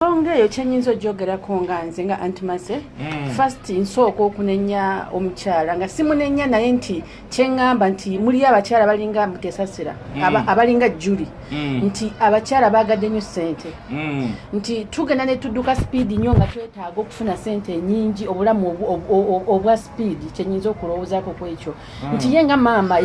ensonga eyo kyenyinza ojogerako nga nze nga antimase mm. first nsooka okunenya omukyala nga simunenya naye nti kyeŋŋamba nti muliyo abakyala balinga mutesasira mm. abalinga juli mm. nti abakyala bagadde nyo sente mm. nti tugenda netuduka sipiidi nyo nga twetaaga okufuna sente enyingi obulamu obwa sipiidi kyenyinza okulowoozako kwekyo mm. nti ye nga maama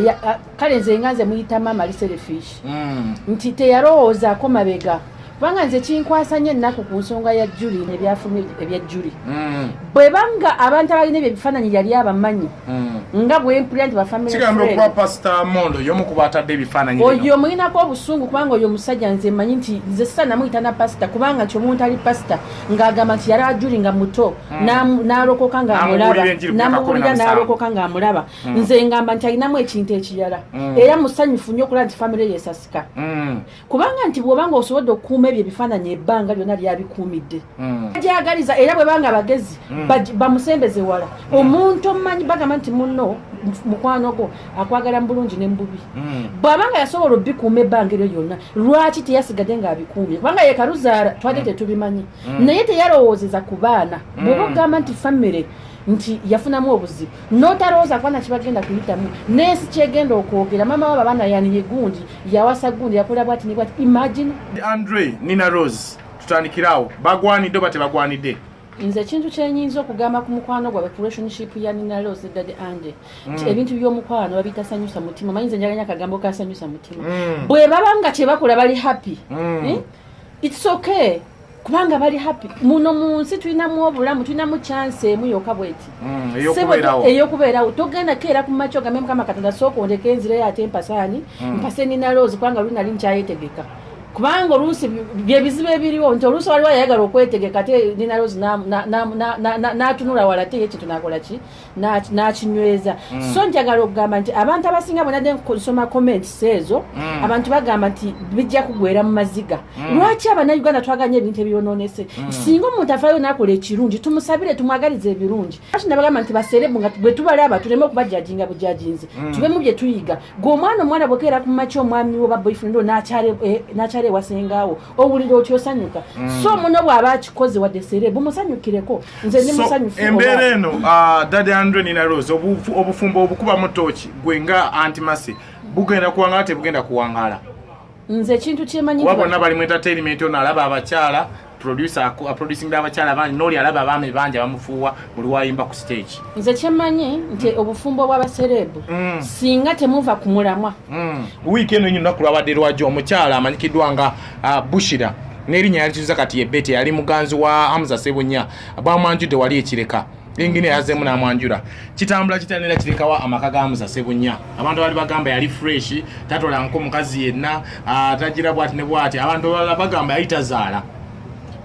kale nze nga nze muyita maama liselefish mm. nti teyalowoozaako mabega kubanga nze kinkwasa nyo ennaku ku nsonga ya juli nebyafuluma ebya juli mm. bwe banga abantu abalina ebyo ebifaananyi yali abamanyi mm. nga bwempulira nti bafamilioyo omulinako obusungu kubanga oyo omusajja nze manyi nti nze sisa namuyita na pasita kubanga nti omuntu ali pasita ng'agamba nti yali ajuli nga muto n'alokoka ng'amulaba namubulira n'alokoka ng'amulaba mm. nze ngamba nti alinamu ekintu ekirala mm. era musanyufu nnyo okulaba nti famire yesasika mm. kubanga nti bwobanga osobodde okukuuma ebyo ebifaananyi ebbanga lyonna lyabikuumidde mm. agyagaliza era bwebanga abagezi mm. bamusembeze wala mm. omuntu omumanyi bagamba nti muno mukwano gwo akwagala mu bulungi ne mububi mm. bwabanga yasobola obikuuma ebbanga eryo lyonna lwaki teyasigade ng'abikuumye kubanga yekaluzaala twali mm. tetubimanyi mm. naye teyalowoozeza ku baana mm. bwoba ogamba nti famire nti yafunamu obuzibu notalowooza kuba nakibagenda kuyitamu nensi kyegenda okwogera mama waba baana yaniye gundi yawasa gundi yakola bwati nibwati imagine andre nina rose tutandikirawo bagwanidde oba tebagwanidde nze ekintu kyenyinza okugamba ku mukwano gwabwe ku relationship ya nina rose dad ande nti mm. ebintu by'omukwano babiyita sanyusa mutima manyi nze njaganya akagambo ka sanyusa mutima mm. bwe baba nga kyebakola bali happy mm. eh? it's okay kubanga bali happy muno mu nsi tulinamu obulamu tulinamu chance emu yoka bweti mm, eyokubeerawo togenda keera ku macho gambe mukama katonda sooka ondeka enzireyo ate mpasaani mm. mpase nina loozi kubanga luli nali nkyayetegeka kubanga oluusi byebizibu ebiriwo nti oluusi waliwo yayagala okwetegeka ate nina loozi natunula wala ate yekintu nakola ki n'akinyweza mm. so njagala okugamba nti abantu abasinga bwenadde nsoma comments ezo mm. abantu bagamba nti bijja kugwera mu maziga mm. lwaki abanauganda twaganya ebintu ebyononese singa omuntu afayo nakola ekirungi tumusabire tumwagaliza ebirungi ati nabagamba nti baserebu nga bwe tubalaba tuleme okubajajinga bujajinzi tubemu bye tuyiga gwe omwana omwana bwekeera ku maki omwami wo baboyfriend o nakyala eh, ewasengaawo owulira otya osanyuka mm. so muno bw'aba akikoze wadde sere bumusanyukireko nze ndi musanyufu embeera eno uh, dadi andre nina rose obufumbo obukubamu tooki gwe nga antimasi bugenda kuwangala tebugenda kuwangala nze ekintu kyemanyi kuba bonna bali mu entertainment ono alaba abakyala producer aproducing abakyala bangi noli alaba abaami bangi abamufuuwa buli wayimba ku stage nze kyemanyi nti obufumbo bwabasereebu mm. singa temuva ku mulamwa mm. wiiki eno nyo lunaku lwabadde lwajo omukyala amanyikiddwa nga uh, bushira nerinya yalituza kati yebete yali muganzi wa hamza sebunya bwamwanjudde wali ekireka engine yazemu namwanjura kitambula kitanira kirekawa amaka ga hamza sebunya abantu bali bagamba yali fresh tatola nko mukazi yenna uh, tajira bwati ne bwati abantu bagamba yayitazaala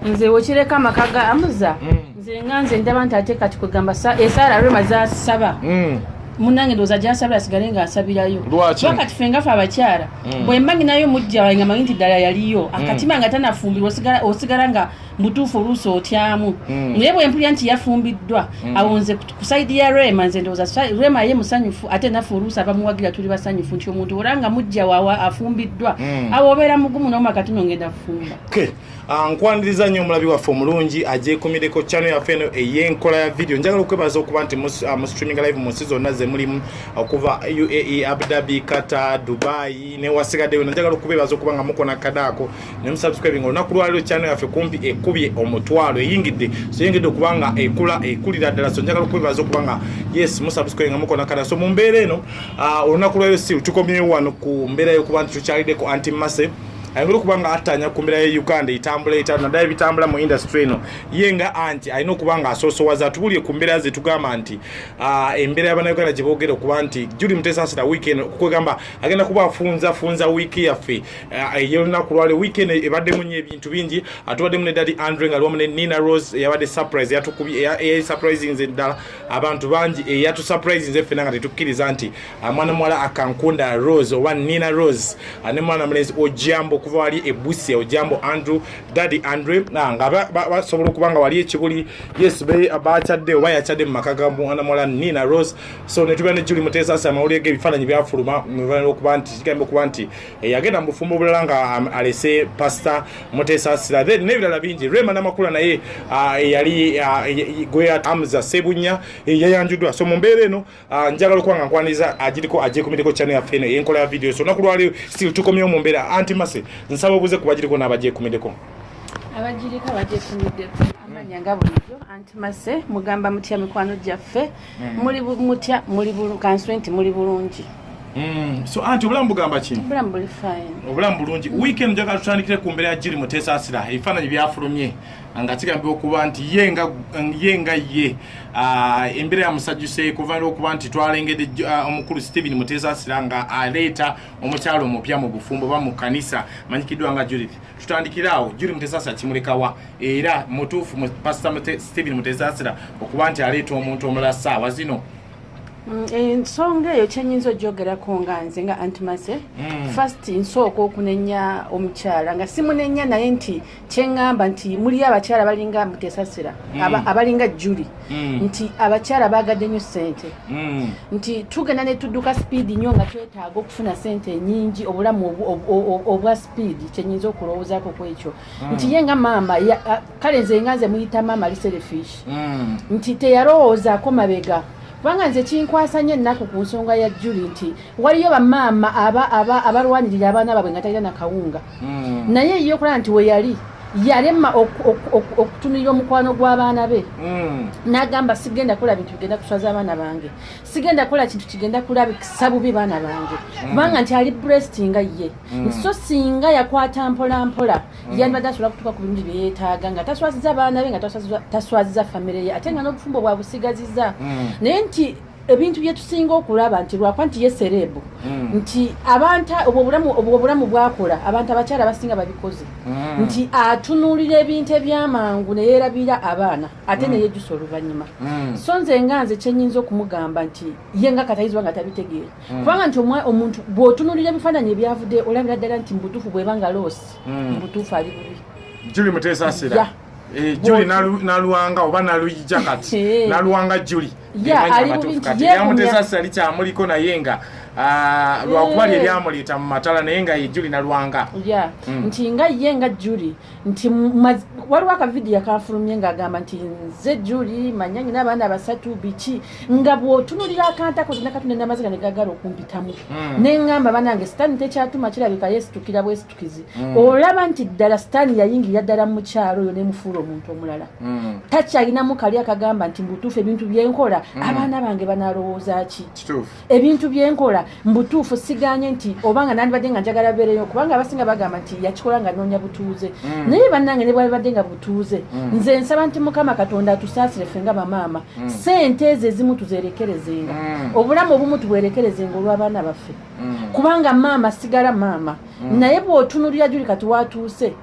nze wekireka amaka ga amuza mm. nze nga nze ndaba nti ate kati kwegamba esaala eh, rema zasaba mm. munange ndowooza gyasabira asigale nga asabirayo wakati fe ngafe abakyala mm. bwemba nginayo mujja wange manyi nti ddala yaliyo akatima nga tanafumbirwa osigala nga mutuufu oluusi otyamu naye bwempulira nti yafumbiddwa awonze kusaidi ya rema nze ndowooza rema ye musanyufu ate nafe oluusi abamuwagira tuli basanyufu nti omuntu oranga mujja wawa afumbiddwa awo obeera mugumu nomakatino ngenda fumba Okay. Ah, nkwaniriza nnyo omulabi waffe omulungi agyekumireko ah, channel yaffe eno ey'enkola ya video njagala okwebaza okuba nti mu ah, streaming live mu nsi zonna ze mulimu okuva uae abu dhabi qatar dubai newasigadde yona njagala okubebaza okuba nga mukona kadaako ne musubscribing olunaku lwaliro channel yaffe kumpi ekubye omutwalo eyingidde so eyingidde okuba nga ekula ekulira ddala so njagala okubebaza okuba nga yes musubscribe nga mukona kadaako so mu mbeera eno olunaku lwaliro si tukomyewo wano ku mbeera yokuba nti tukyalideko anti mase ayinza okuba nga attaanya ku mbeera ya uganda etambula eta naddala ebitambula mu industry eno ye nga anti alina okuba nga asoosowaza atubulire ku mbeera ze tugamba nti ah, embeera yabanauganda gye boogera okuba nti juli mutesaasira wiiki eno kwegamba agenda kuba afunza funza wiiki yaffe ah, eyolunaku lwale wiiki eno ebaddemu nyo ebintu bingi atubaddemu ah, ne dadi andre nga liwamu ne nina rose eyabadde surprise yatukubye eyayi surprise nze ddala abantu bangi eyatu eh, surprise nze fena nga tetukkiriza nti ah, mwana muwala akankunda rose oba nina rose ah, ne mwana mulenzi ojambo okuva wali ebusia ojambo andrew daddy andre ah, nga basobola okuba nga wali ekibuli yes bakyadde oba yakyadde mu maka ga mwana muwala nina rose so netubeera ne juli muteesasi amawulire g'ebifaananyi byafuluma okuba nti kigambo okuba nti eyagenda mu bufumbo bulala nga um, alese pasita mutesasira then n'ebirala bingi rema namakula naye uh, eyali uh, gwe amza sebunya eh, yayanjuddwa so mu mbeera eno uh, njagala okuba nga nkwaniriza agiriko agyekumireko channel yaffe eno enkola ya video so nakulwaleo still tukomyewo mu mbeera anti mase nsaba obuze ku bagiriko n'abagyekumiddeko abagiriko abagyekumiddeko amanya nga bulijjo anti mase mugamba mutya mikwano gyaffe mm. muli mutya muli kanswe nti muli bulungi mm. so anti obulamu bugamba ki obulamu buli fine obulamu bulungi mm. weekend njaga tutandikire ku mbeera ya jiri mutesaasira ebifaananyi byafulumye nga kigambibwa okuba nti ye nga ye nga ye ah, embeera yamusajjuse kuvanira okuba nti twalengedde ah, omukulu stephen mutesaasira nga aleeta omukyalo omupya mu bufumbo ba mu kanisa manyikiddwa nga judith tutandikire awo juri mutesaasira kimulekawa era mutuufu pasita stephen mutesasira okuba nti aleeta omuntu omulala saawa zino mm, ensonga eyo kyenyinza ojogerako nga nze nga antimase mm. fist nsooka okunenya omukyala nga simunenya naye nti kyeŋamba nti muli abakyala balinga mutesasira mm. abalinga juli nti abakyala bagadde nyo sente nti tugenda netudduka sipiidi nyo nga twetaaga okufuna sente enyingi obulamu obwa sipiidi kyenyinza okulowoozako kwekyo mm. nti ye nga maama kale nze nga nze muyita maama liserefish mm. nti teyalowoozaako mabega kubanga nze kinkwasa nnyo ennaku ku nsonga ya juli nti waliyo bamaama abalwanirira abaana baabwe nga talina nakawunga mm. naye ye okulaba nti weyali yalema okutunulira omukwano gw'abaana be mm. n'agamba sigenda kukola bintu bigenda kuswaza abaana bange sigenda kukola kintu kigenda kulabisa bubi baana bange mm. kubanga nti ali bresinga ye Mm. so singa yakwata mpola mpola mm. yandibadde asobola kutuuka ku bintu byeyetaaga nga taswaziza baana be nga taswaziza famire ye ate nga n'obufumbo bwabusigaziza mm. naye nti ebintu byetusinga okulaba nti lwakuba nti ye serebu mm. nti abantu obwo obulamu bwakola abantu abakyala basinga babikoze mm. nti atunuulira ebintu ebyamangu neyerabira abaana ate mm. neyejusa oluvannyuma so nze nga nze kyenyinza okumugamba nti ye nga katayizibwa nga tabitegeera mm. kubanga nti omwa omuntu bwotunulira ebifaananyi ebyavude olabira ddala nti mubutuufu bweba nga loosi mm. mubutuufu ali bubi juli muteesasira yeah. Eh, juli nalwanga oba naluyija kati eh. nalwanga juli yamutesasali kyamuliko naye nga ah, lwakuba eh. lye lyamuleeta mu matala naye nga ye juli nalwanga mm. nti nga ye nga juli nti waliwo akavidiyo akanfulumye ng'agamba nti nze juli manya nyina abaana abasatu biki nga bw'otunulira akantako zina katonda namaziga ne gagala okumpitamu hmm. ne ŋŋamba banange sitaani tekyatuma kirabika yeesitukira bwesitukizi hmm. olaba nti ddala sitaani yayingirira ddala mu mukyalo oyo nemufuula omuntu omulala hmm. takyalinamu kali akagamba nti mbutuufu ebintu byenkola abaana bange banalowooza ki ebintu byenkola mbutuufu siganye nti obanga nandibadde nga njagala beereyo kubanga abasinga bagamba nti yakikola nga noonya butuuze mm. naye bannange ne bwabibadde nga butuuze mm. nze nsaba nti mukama katonda atusaasire ffe nga bamaama mm. sente ezo ezimu tuzerekerezenga obulamu obumu tubwerekerezenga olw'abaana baffe kubanga maama sigala maama naye bw'otunulira juli kati watuuse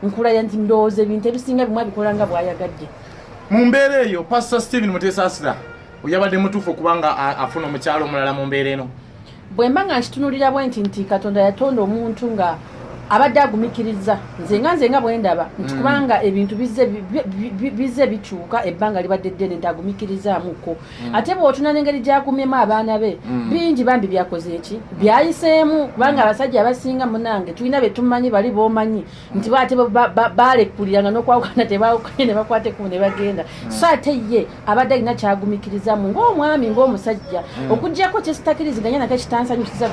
nkulaya nti ndowooza ebintu ebisinga bimu abikola nga bwayagadde mu mbeera eyo pasita stephen mutesaasira oyabadde mutuufu okubanga afuna omukyalo omulala mu mbeera eno bwe mba nga nkitunulira bwe nti nti katonda yatonda omuntu nga abadde agumikiriza nze nga nze nga bwendaba nti mm. kubanga ebintu bizze bikyuka ebbanga libadde ddene nti agumikirizaamukko mm. ate bwotuna nengeri gyagumyemu abaana be mm. bingi bambi byakoze eki byayiseemu kubanga abasajja abasinga munange tulina betumanyi bali bomanyi nti baate balekuliranga nokwawukana tebawukanye nebakwata ekumu nebagenda so ate ye abadde alina kyagumikirizamu ngaomwami ngaomusajja mm. okujjako kyesitakiriziganya nako ekitansanyusiza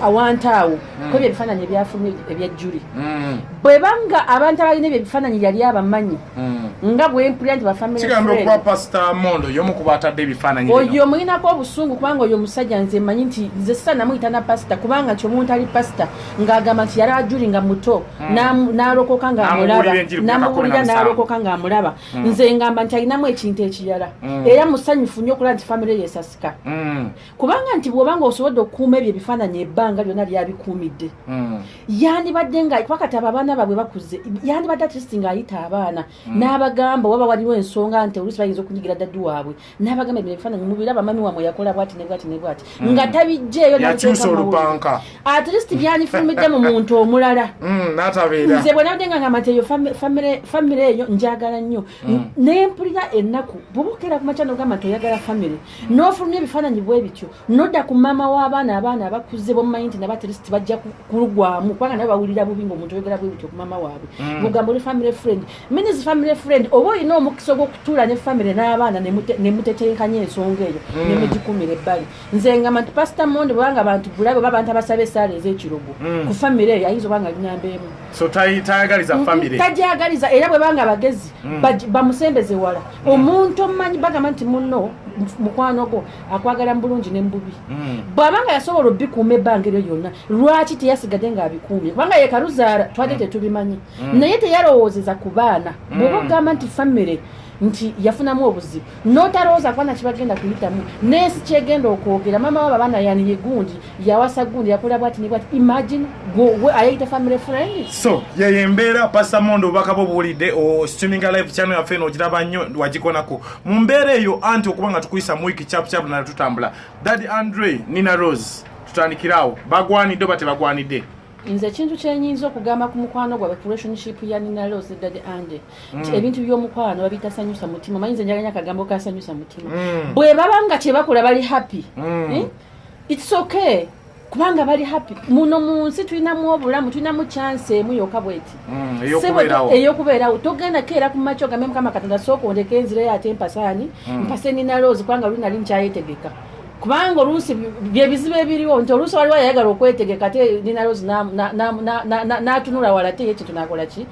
awantu awo mm. kwebyo ebifaananyi ebyafulumye ebyajjuli mm. bweba nga abantu abalina ebyo ebifaananyi yali abamanyi nga bwempulira nti bafamilioyo omulinako obusungu kubanga oyo omusajja nze manyi nti nze sisa namuyita na pasita kubanga nti omuntu ali pasita ng'agamba nti yali ajuli nga muto n'alokoka ng'amulaba namuwulira n'alokoka ng'amulaba mm. nze ngamba nti alinamu ekintu ekirala mm. era musanyufu nnyo okulaba nti famire yesasika mm. kubanga nti bwobanga osobodde okukuuma ebyo ebifaananyi ebbanga lyonna lyabikuumidde mm. yandibadde nga kubakati abo abaana babwe bakuze yandibadde atist nga ayita abaana mm. n'abagamba waba waliwo ensonga nti oluusi bayinza okunyigira daddi waabwe n'abagamba ebyo ebifaananyi mubiraba mami wamwe yakola bwati ne bwati ne bwati hmm. nga tabijjeeyo yakyusa olupanka at least byandifulumidde mu muntu omulala hmm, natabeera nze bwe nabadde nga ngamba nti eyo famire eyo njagala nnyo hmm. naye mpulira ennaku bwobukera ku makya nogamba nti oyagala famire n'ofulumya ebifaananyi bwe bityo nodda ku maama w'abaana abaana abakuze bomumanyi nti nabo at least bajja kulugwamu kubanga nabo bawulira bubi ngaomuntu oyogera bwe bityo ku maama waabwe ogamba oli famire friend Minis family friend oba olina omukisa ogw'okutuula ne family n'abaana ne mutetenkanya ensonga eyo mm. ne mugikumira ebbali nze nga manti pasita monde bwebanga bantu bulabe oba abantu abasaba esaala ez'ekirogo mm. ku family eyo ayinza obanga linyamba emu tajagaliza era bwebanga abagezi mm. bamusembeze wala omuntu omumanyi bagamba nti munno mukwano gwo akwagala mu bulungi ne mu bubi bwabanga yasobola obikuuma ebbanga eryo lyonna lwaki teyasigadde ng'abikuumye kubanga yekaluzaala twali tetubimanyi mm. naye teyalowoozeza ku baana mm. bwoba ogamba nti famire nti yafunamu obuzibu notalowooza kubana kibagenda kuyitamu nensi kyegenda okwogera mama waba baana yaniye gundi yawasa gundi yakola bwati nibwati imagine ayeyita family friend so yeyo embeera pasamondo obubaka bwo buwulidde o streaming live channel yaffe eno ogiraba nnyo wagikonako mu mbeera eyo anti okuba nga tukuyisa mu wiki chapuchapu nala tutambula dadi andre nina rose tutandikiraawo bagwanidde oba tebagwanidde nze ekintu kyenyinza okugamba ku mukwano gwabwe ku relationship ya nina leo zedade ande mm. ebintu by'omukwano babitasanyusa mutima manyi nze njaganya akagambo kasanyusa mutima mm. bwe baba nga kyebakola bali happy mm. eh? it's okay kubanga bali happy muno mu nsi tulinamu obulamu tulinamu chanse emu yoka bweti mm, eyokubeerawo togenda keera ku maco gambe mukama katonda sooka ondeka enzira yo ate mpasaani mm. mpase nina loozi kubanga luli nali nkyayetegeka kubanga oluusi byebizibu ebiriwo nti oluusi waliwo ayagala okwetegeka te dinalozi natunula wala te yekintu nakola ki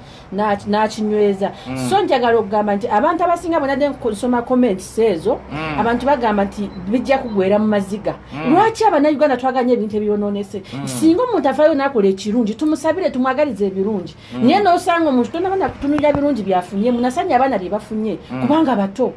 nakinyweza mm. so njagala okugamba nti abantu abasinga bwenadde nsoma comments ezo mm. abantu bagamba nti bijja kugwera mu maziga mm. lwaki abanauganda twaganya ebintu ebyononese singa omuntu afayo nakola ekirungi tumusabire tumwagaliza ebirungi naye nosanga omuntu tonabana kutunulira birungi byafunye munasanya abaana byebafunye kubanga bato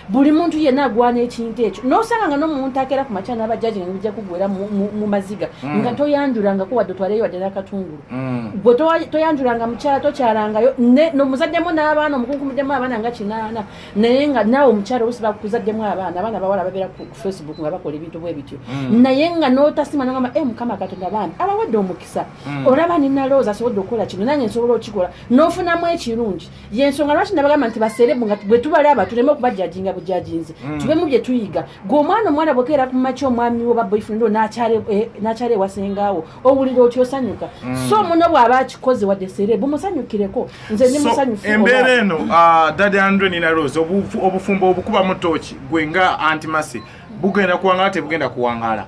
buli muntu yenna agwana ekintu ekyo nosanga nga nomuntu akeera ku makya nabajaji nga nibija kugwera mu maziga mm. nga toyanjulangako wadde otwaleyo wadde nakatungulu mm. gwe toyanjulanga mukyala tokyalangayo nomuzaddemu n'abaana omukunkumuddemu abaana nga kinaana naye nga naawe omukyala olusi bakuzaddemu abaana abaana bawala babeera ku facebook nga bakola ebintu bwe bityo mm. naye nga notasima nogamba e mukama katonda baana abawadde omukisa olaba ninalowooza asobodde okukola kino nange nsobola okikola nofunamu ekirungi yensonga lwaki nabagamba nti baserebu nga bwe tubalaba tuleme okubajajinga bujajinzi mm. tube mu bye tuyiga gwe omwana omwana bwekeera ku maki omwami wo baboyfriend nakyala eh, ewasengaawo owulira oti osanyuka mm. so muno bw'aba akikoze wadde serebu musanyukireko nze ndi musanyufu embeera eno ah, dadi andre nina rose obufumbo obukubamu tooki gwe nga antimasi bugenda kuwangala tebugenda kuwangala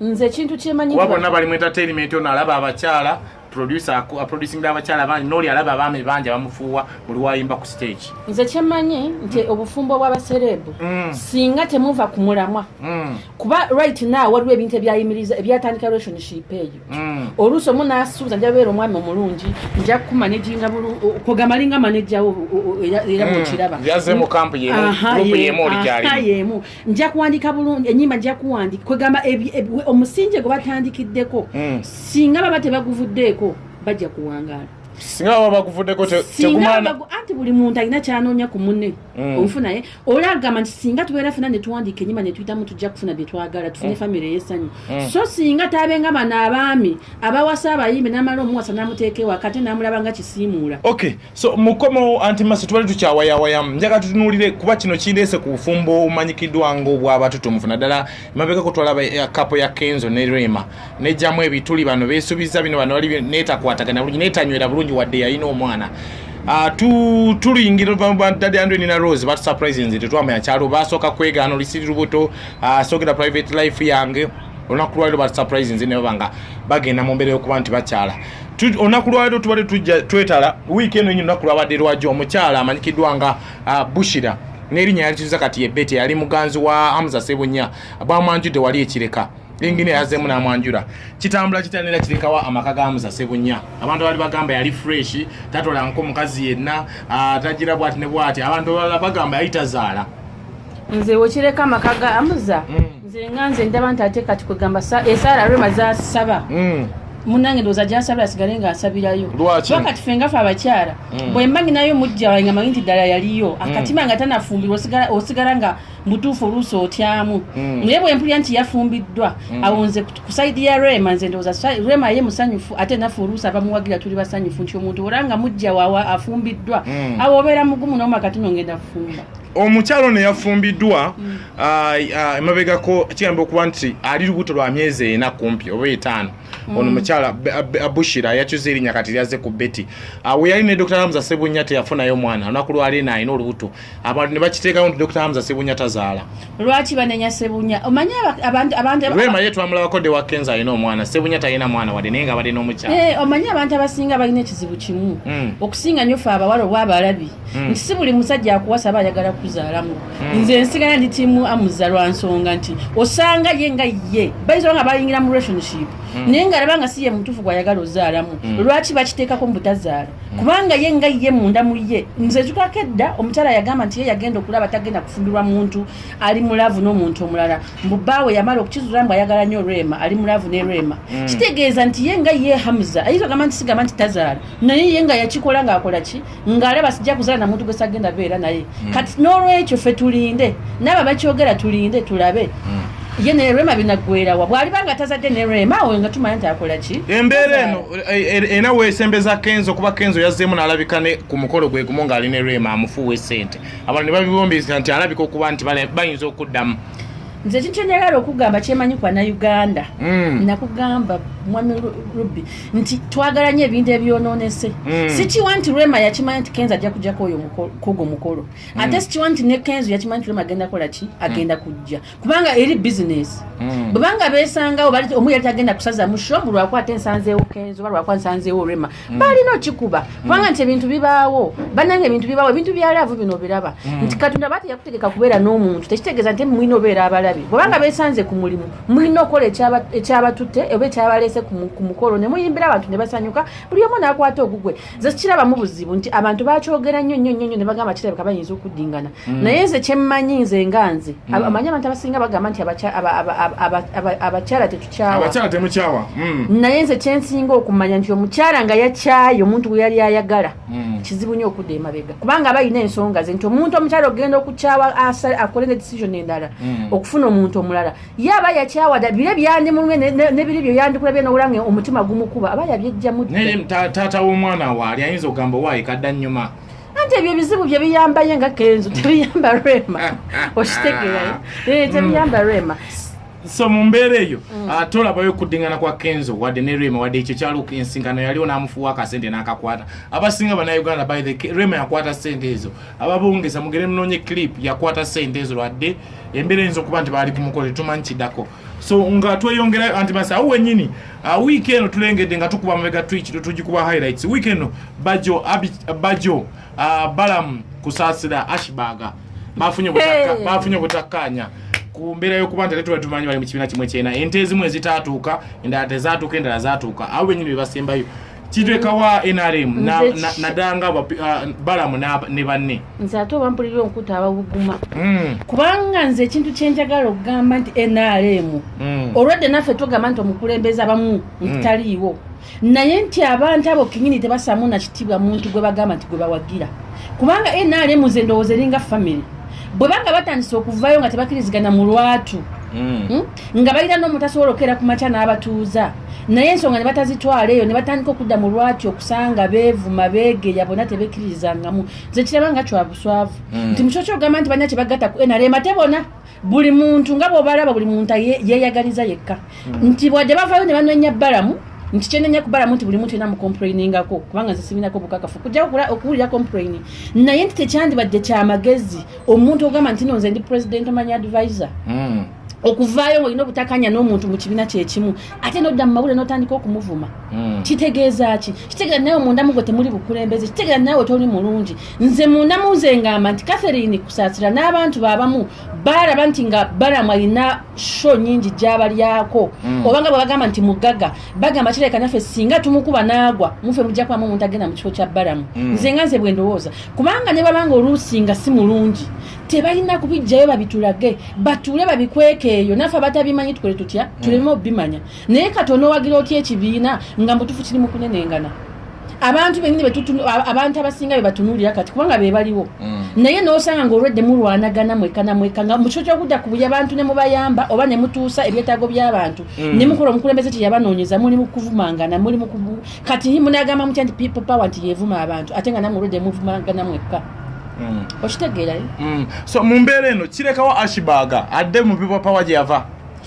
nze ekintu kyemanyi kuba bonna bali mu entertainment ono alaba abakyala producer aproducinga abakyala bangi nooli alaba abaami bangi abamufuuwa buli wayimba ku stage nze kyemanyi nti mm. obufumbo bw'abasereebu mm. singa temuva ku mulamwa mm. kuba right now waliwo ebintu ebyayimiriza ebyatandika relationship eyo mm. oluusi omu n'asuubiza nja beera omwami omulungi nja kukumanejinga kugamba linga manejjawo era bwekiraba mm. yaze mu kampu yemu yemu oli gyalimu nja kuwandika bulungi enyimba nja kuwandika kwegamba omusinje gwe batandikiddeko hmm. singa baba tebaguvuddeeko bajja kuwangaala singa baba baguvuddeko tegumana anti buli muntu alina kyanoonya ku munne hmm. omufu naye ola agamba nti singa tubeera fena netuwandiika enyimba netuyitamu tujja kufuna byetwagala tufune hmm. famire yesanyu so singa tabenga bano abaami abawasa abayimbi namala omuwasa namuteeka ewaka ate namulaba nga kisiimuula okay so mukomewo anti maso tubali tukyawayawayamu njaga tutunulire kuba kino kindeese ku bufumbo obumanyikiddwa ngaobwabatutumufu naddala emabega kutwala eh, kapo ya kenzo ne rema nejjamu ebituli bano besubiza bino bano bali netakwatagana bulungi netanywera bulungi wadde yalina omwana ah, tuluyingira dadi andwe nina rose batusurprise nze tetwamanya kyalo basooka kwegaana olisiri lubuto ah, soogera private life yange olunaku lwaliro batusurprise nze nebabanga bagenda mu mbeera yokuba nti bakyala olunaku lwaliro tubadde tujja twetala wiiki eno enyo olunaku lwabadde lwajo omukyala amanyikiddwa nga ah, bushira n'erinnya yalikizuza kati yebete yali muganzi wa hamza sebunya bwamwanjudde wali ekireka lingine yazemu namwanjura kitambula kitanira kirekawa amaka ga hamza sebunya abantu bali bagamba yali fresh tatolanko mukazi yenna ah, tagira bwati ne bwati abantu bagamba yali tazaala nze wekireka amaka ga amuza mm. nze nga nze ndaba nti ate kati kwegamba esaala eh, rema zasaba mm. munange ndowooza gyasabira asigale nga asabirayo wakati fe ngafe abakyala mm. bwemba nginayo mujja wae nga manyi nti ddala yaliyo akatima nga tanafumbirwa osigala nga mutuufu oluusi otyamu naye bwempulira nti yafumbiddwa awonze kusaidi ya rema nze ndowooza rema ye musanyufu ate nafe oluusi abamuwagira tuli basanyufu nti omuntu olanga mujja wawa afumbiddwa awo obeera mugumu nomakati nongenda kufumba omukyalo ono yafumbiddwa mm. ah, ah, emabegako kigamba okuba nti ali lubuto lwa myezi ena kumpi oba etaano mm. ono mukyala bushira yakyuza erinya kati lyaze ku beti ah, weyali ne dr hamza sebunya teyafunayo omwana olunaku lwali eno alina olubuto abantu ne bakiteekawo nti dr hamza sebunya tazaala lwaki banenya sebunya omanyi rema ye twamulabako de wakenza alina omwana sebunya talina mwana wadde naye nga abadde n'omukyala eh, omanyi abantu abasinga balina ekizibu kimu mm. okusinga nyo fe abawala obwabalabi mm. nti si buli musajja akuwasa aba ayagala kuzaalamu mm. nze nsigala ndi tiimu amuza lwa nsonga nti osanga ye nga ye bayinza nga bayingira mu relationship mm. naye nga alaba nga si ye mutuufu gwayagala ozaalamu mm. lwaki bakiteekako mu butazaala mm. kubanga ye nga ye munda mu ye nze nzukako edda omukyala yagamba nti ye yagenda okulaba tagenda kufumbirwa muntu ali mulavu n'omuntu omulala mbu baawe yamala okukizuula mbu ayagala nnyo rema ali mulavu ne rema mm. kitegeeza nti ye nga ye hamuza ayinza ogamba nti sigamba nti tazaala naye ye nga yakikola ng'akola ki ngalaba sijja kuzala na muntu gwesagenda beera naye mm. kati n'olwekyo ffe tulinde naaba bakyogera tulinde tulabe mm. ye ne rema binagwerawa bwaliba nga tazadde ne rema awo nga tumanya nti akola ki embeera eno ena wesembeza kenzo kuba kenzo yazzeemu n'alabika ne ku mukolo gwe gumu ng'ali ne rema amufuuwa esente abantu ne babibombeza nti alabika okuba nti bayinza okuddamu nze kintu kyenjagala okugamba kyemanyi kwa nauganda mm. nakugamba mwami rubi nti twagala nyo ebintu ebyononese mm. sikiwa nti rema yakimanya nti kenzo ajja kujjako oyo kogo mukolo mm. ate sikiwa nti ne kenzo yakimanya nti rema agenda kola ki agenda kujja kubanga eri bisinesi bwebanga besangawo omu yali tagenda kusaza musho mulwakuba ate nsanzeewo kenzo oba lwakuba nsanzeewo rema mm. balina okikuba mm. kubanga mm. nti ebintu bibaawo banange ebintu bibaawo ebintu byalaavu bino obiraba mm. nti katonda aba teyakutegeka kubeera n'omuntu tekitegeeza nti mulina obeera abalabi bwebanga mm. besanze ku mulimu mulina okukola ekyabatutte oba ekyabaleese ku mukolo ne muyimbira abantu ne basanyuka buli omu naakwata ogugwe nze kirabamu buzibu nti abantu bakyogera nnyo nnyo nnyo nnyo ne bagamba kirabika bayinza okuddingana mm. naye nze kyemmanyi nze nga nze mm. amanyi abantu abasinga bagamba nti abakyala tetu abakyala temukyawa mm. naye nze kyensinga okumanya nti omukyala nga yakyaye omuntu gwe yali ayagala mm. kizibu nyo okudda emabega kubanga aba alina ensonga ze nti omuntu omukyala ogenda okukyawa akole ne decision endala mm. okufuna omuntu omulala ye aba yakyawa da bire byandimulumye nebiri byo yandikulabye nowulanga omutima gumukuba aba yabyejjamu naye taata w'omwana waali ayinza okugamba owaayi kadda nnyuma anti ebyo ebizibu bye biyambaye nga kenzo tebiyamba rema ah, ah, okitegeera ah. eh, tebiyamba rema so mu mbeera eyo mm. ah, tolabayo okuddingana kwa kenzo wadde ne rema wadde ekyo kyalo ensinkano yaliwo n'amufuwa akasente n'akakwata abasinga banauganda by the rema yakwata sente ezo ababongeza mugere munoonye clip yakwata sente ezo lwadde embeera eyinza okuba nti baali kumukole tumanyi kidako so nga tweyongerayo anti masa awo wenyini ah, wiiki eno tulengedde nga tukuba mabega twiki tugikuba highlights wiiki eno bajo bajo ah, balamu kusaasira ashbaga bafunye obutakkaanya ku mbeera y'okuba nti ate tuba tumanyi bali mu kibiina kimu ekyena ente ezimu ezitaatuuka endala tezaatuuka endala zaatuuka abo benyini be basembayo kitekawa nrm nadanga uh, balamu ne banne nze ate oba mpulira onkuta abawuguma hmm. kubanga nze ekintu kyenjagala okugamba nti nrm hmm. olwedde naffe tugamba nti omukulembeze abamu hmm. ntaliiwo naye nti abantu abo kinyini tebasamu na kitibwa muntu gwe bagamba nti gwe bawagira kubanga nrm nze ndowooza eringa family bwe banga batandise okuvayo nga tebakirizigana mu lwatu mm. hmm? nga balina n'omutasobola okukeera ku makya n'abatuuza naye ensonga ne batazitwala eyo ne batandika okudda mu lwati okusanga beevuma beegeya bona tebekirizangamu nze kiraba nga kyabuswavu mm. nti mukyokyo ogamba nti balina kye bagatta ku nrm ate bona buli muntu nga bwobalaba buli muntu yeyagaliza yekka hmm. nti bwadde bavayo ne banonya balamu nti kyenenya kubalamu nti buli muntu ena mucomplainingako kubanga nze siminako bukakafu kujja okuwulira complaini naye nti tekyandibadde kyamagezi omuntu ogamba nti no nze ndi president omanya advisor hmm. okuvaayo ngaolina obutakanya n'omuntu mu kibiina kyekimu ate nodda mu mawulire notandika okumuvuma hmm. kitegeeza ki kitegeeza nawe omundamu gwe temuli bukulembeze kitegeeza nawe toli mulungi nze munda munze ngamba nti catherine kusasira n'abantu babamu balaba nti nga balamu alina sho nyingi gyabalyako mm. obanga bwebagamba nti mugaga bagamba kireka naffe singa tumukuba naagwa mufe mujja kubamu omuntu agenda mu kifo kya balamu mm. nze nga nze bwe ndowooza kubanga ne babanga oluusi nga si mulungi tebalina kubijjayo babitulage batuule babikwekeeyo naffe abatabimanyi tukole tutya mm. tuleme obimanya naye kati onowagira otya ekibiina nga mutufu kiri mukunenengana abantu benyini abantu abasinga bebatunulira kati kubanga bebaliwo mm. naye nosanga nga olwedde mulwanagana mwekana mweka nga mukifo kyokudda kubuya abantu nemubayamba oba nemutuusa ebyetaago byabantu mm. nemukola omukulembeze teyabanoonyeza muli mukuvumangana muli mukubu kati munagamba mutya nti people power nti yevuma abantu ate nga namwe olwedde muvumangana mwekka mm. okitegeerayo so mu mbeera eno kirekawo ashibaga adde mu people power gyeyava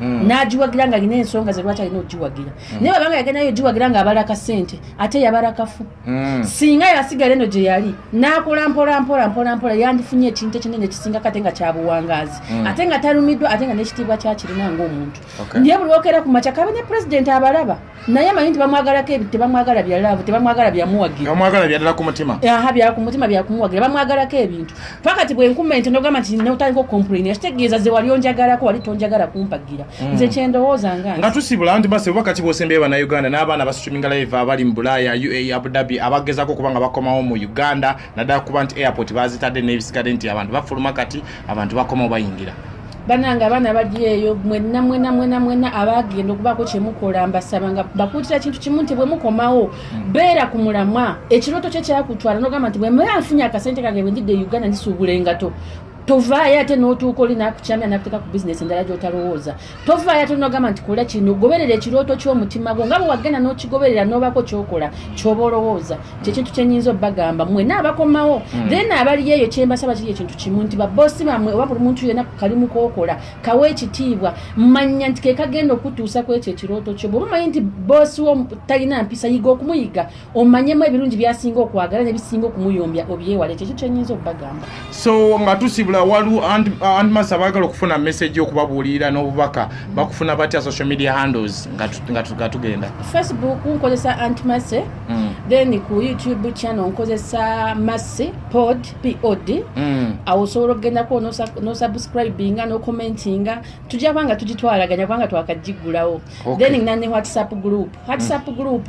Mm. nagiwagira nga alina ensonga ze lwaki alina okugiwagira mm. naye babanga yagendayo ogiwagira nga abala kasente ate yabala kafu mm. singa yasigala eno gye yali nakola mpola mpola mpola mpola yandifunye ekintu ekinene ekisinga kate nga kyabuwangazi ate nga talumiddwa ate nga nekitiibwa kyakirina ngaomuntu naye buli okera ku makya kabe ne pulezidenti abalaba naye amanyi nti bamwagalako ebi tebamwagala bya laavu tebamwagala byamuwagirabamwagala byadala ku mutima aha bya ku mutima byakumuwagira bamwagalako ebintu pakati bwenkuma ente nogamba nti notandika okomplaini akitegeeza ze wali onjagalako wali tonjagala kumpagira mm. nze kyendowooza nga nga tusibula nti base oba kati bwosembeye banauganda n'abaana basicuminga laiva abali mu bulaaya uae abudhabi abagezako okuba nga bakomawo mu uganda naddala kuba nti airport bazitadde n'ebisikadde nti abantu bafuluma kati abantu bakomawo bayingira banange abaana bali eyo mwena mwena mwena mwena abagenda okubaako kyemukola mbasaba nga bakuutira kintu kimu nti bwemukomawo hmm. beera ku mulamwa ekirooto kye kyakutwala nogamba nti bwemera nfunye akasente kange bwendidde e uganda ndisuubula engato tovaayo ate n'otuuka oli nakukyamya nakuteeka ku bizinesi endala gyotalowooza tovaayo ate nogamba nti kola kino goberera ekirooto ky'omutima gwo nga bwewagenda n'okigoberera n'obako kyokola kyoba olowooza nti ekintu kyenyinza obbagamba mwena abakomawo hmm. then abaliyo eyo kyembasaba kiri ekintu kimu nti baboosi bamwe oba buli muntu yena kalimu kokola kawa ekitiibwa manya nti kekagenda okutuusa ku ekyo ekirooto kyo bwoba omanyi nti boosi wo talina mpisa yiga okumuyiga omanyemu ebirungi byasinga okwagala nebisinga okumuyombya obyewala ekyo ekyo kyenyinza okubagamba so nga tusibula waliwo antmas abaagala okufuna message okubabuulirira n'obubaka bakufuna batya social media handles nga tugenda facebook nkozesa antmase mm. then ku youtube channel nkozesa masse pod pod mm. awo osobola okugendako nosubscribinga nocomentinga tujja kubanga tugitwalaganya kubanga twakagigulawo then nane whatsapp group whatsapp mm. group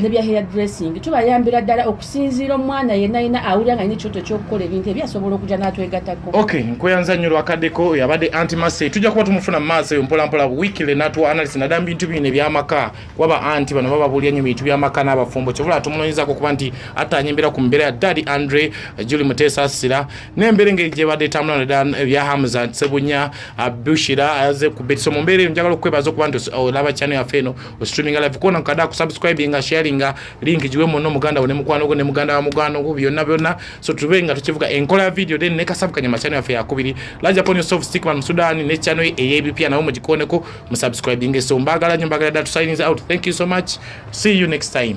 ne bya hair dressing tubayambira ddala okusinziira omwana yenna yenna awulira nga nina ekyoto ekyokukola ebintu ebyo asobola okujja n'atwegatako ok nkweyanza nnyo lwakaddeko oyo abadde anti masey tujja kuba tumufuna mu maaso eyo mpolampola wikile natuwa analyst naddala mu bintu bino ebyamaka kuba ba anti bano baba babuulira nnyo bintu byamaka n'abafumbo kyobula tumunoonyezako okuba nti attaanya embeera ku mbeera ya daddy andre juli muteesa asira n'embeera engeri gyebadde etambula naddala ebya hamza sebunya bushira aze ku betiso mu mbeera eyo njagala okukwebaza okuba nti olaba kyano yaffe eno streaming live kona nkada ku subscribe nga sharing nga link jiwe mono muganda wone mukwano gwo ne muganda wa mugano gwo byonna byonna so tube nga tukivuga enkola video then ne kasab kanyama channel yafe yakubiri laja pon yourself stick man sudan ne channel eyb pia nawo mujikone ko mu subscribing so mbagala nyo mbagala datu signing out thank you so much see you next time